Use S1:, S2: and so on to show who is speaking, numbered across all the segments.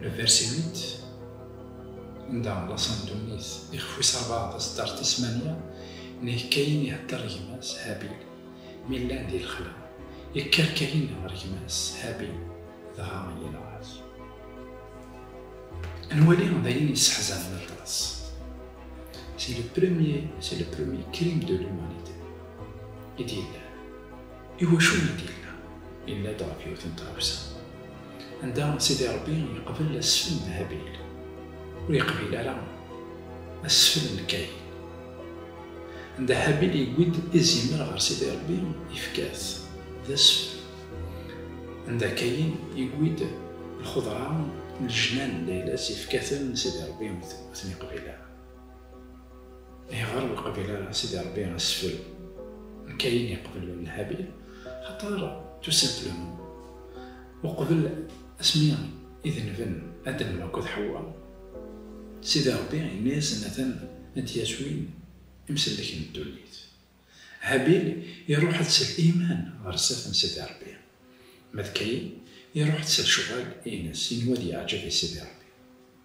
S1: Le verset 8 anda la sandunit ixef wis rebɛa tasdart ismaniya nek kayin ihedder gma-s Habil mi llan di lexla yekker kayin ɣer gma-s Habil dɣa yenɣa-t nwali d ayen yesseḥzanen aṭas c'est le premier c'est le premier crime de l'humanité i d-yellan Iwacu i d-yella? Yenna-d ɣef yiwet n tɣawsa anda Sidi Ṛebbi yeqbel asfel n Habil, ur yeqbil ara asfel n Kayin. Anda Habil yewwi-d izimer ɣer Sidi Ṛebbi, yefka-t d asfel. Anda Kayin yewwi-d lxudṛa n lejnan n layla-s, yefka-ten, Sidi Ṛebbi ur ten-yeqbil ara. Ayɣer ur qbil ara a Sidi Ṛebbi asfel n Kayin yeqbel n Habil? Axaṭer tout simplement uqbel asmi i denben Adam akked Ḥewwa, Sidi Ṛebbi yenna-yasen atan a d-yas win imsellek n ddunit. Habil iṛuḥ-d s liman ɣer sdat n Sidi Ṛebbi, ma d Kayin iṛuḥ-d s lecɣal-ines, yenwa ad yeɛǧeb i Sidi Ṛebbi.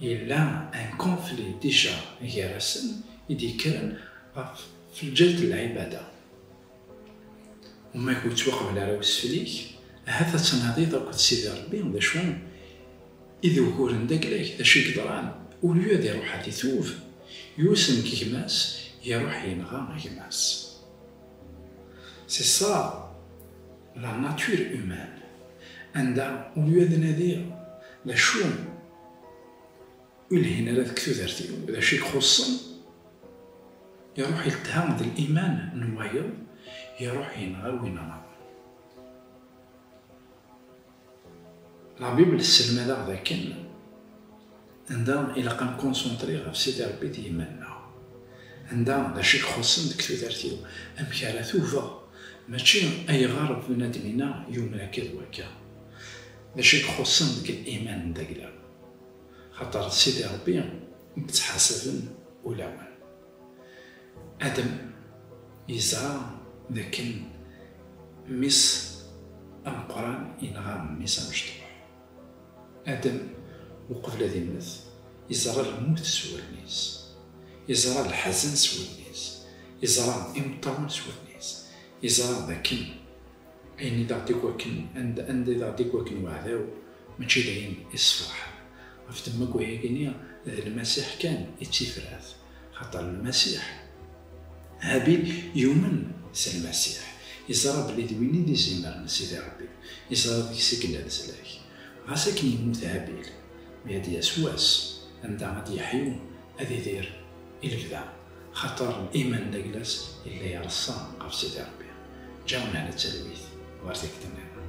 S1: Yella un conflit déjà gar-asen i d-yekkren ɣef Felǧel d Lɛibada. Umak ur yettwaqbel ara wesfel-ik, ahat ad tnadiḍ akked Sidi Rebbi d acu i d uguren d aglag, d acu i yeḍran, au lieu ad iruḥ ad itub, yus nekk gma-s, iruḥ yenɣa gma-s. C'est ça! La nature humaine, anda ur yad nadi d acu ur lhin ara deg tudert-iw, d acu i ixuṣṣen, iruḥ iltha d liman n wayeḍ, iruḥ yenɣa win anaḍen. La Bible tesselmad-aɣ dakken anda ilaq ad nkunsentri ɣef Sidi Rebbi d yiman-nneɣ. Anda d acu i ixuṣṣen deg tudert-iw, amek ara tubeɣ, mačči ayɣer bnadem-inna yumen akka d wakka. D acu i ixuṣṣen deg iman n d aglam, axaṭer d Sidi Rebbi i yettḥasaben ulawen. Adam yezɛa d akken mmi-s ameqqran yenɣa mmi-s amecṭuḥ. Adam, uqbel ad immet, yeẓra lmut s wudem-is, yeẓra leḥzen s wudem-is, yeẓra imeṭṭawen s wudem-is, yeẓra d akken. Ayen i d aɣ-d-ikwekn, anda, anda i d aɣ-d-ikwekn weɛdaw, mačči d ayen issefraḥen. Ɣef temmug ayagi-nni, d Lmasiḥ kan i d tifrat, xaṭer Lmasiḥ, Habil yumen s Lmasiḥ, iẓra belli d win i d izimer n Sidi Rebbi, iẓra deg-s i yella leslak. Ɣas akken yemmut Habil, mi ad d-yas wass anda ad d-yeḥyu, ad idir i lebda. Xaṭer iman d aglas yella ireṣṣa ɣef Sidi Ṛebbi, ǧǧa mehla d talwit ɣer tikti niḍen.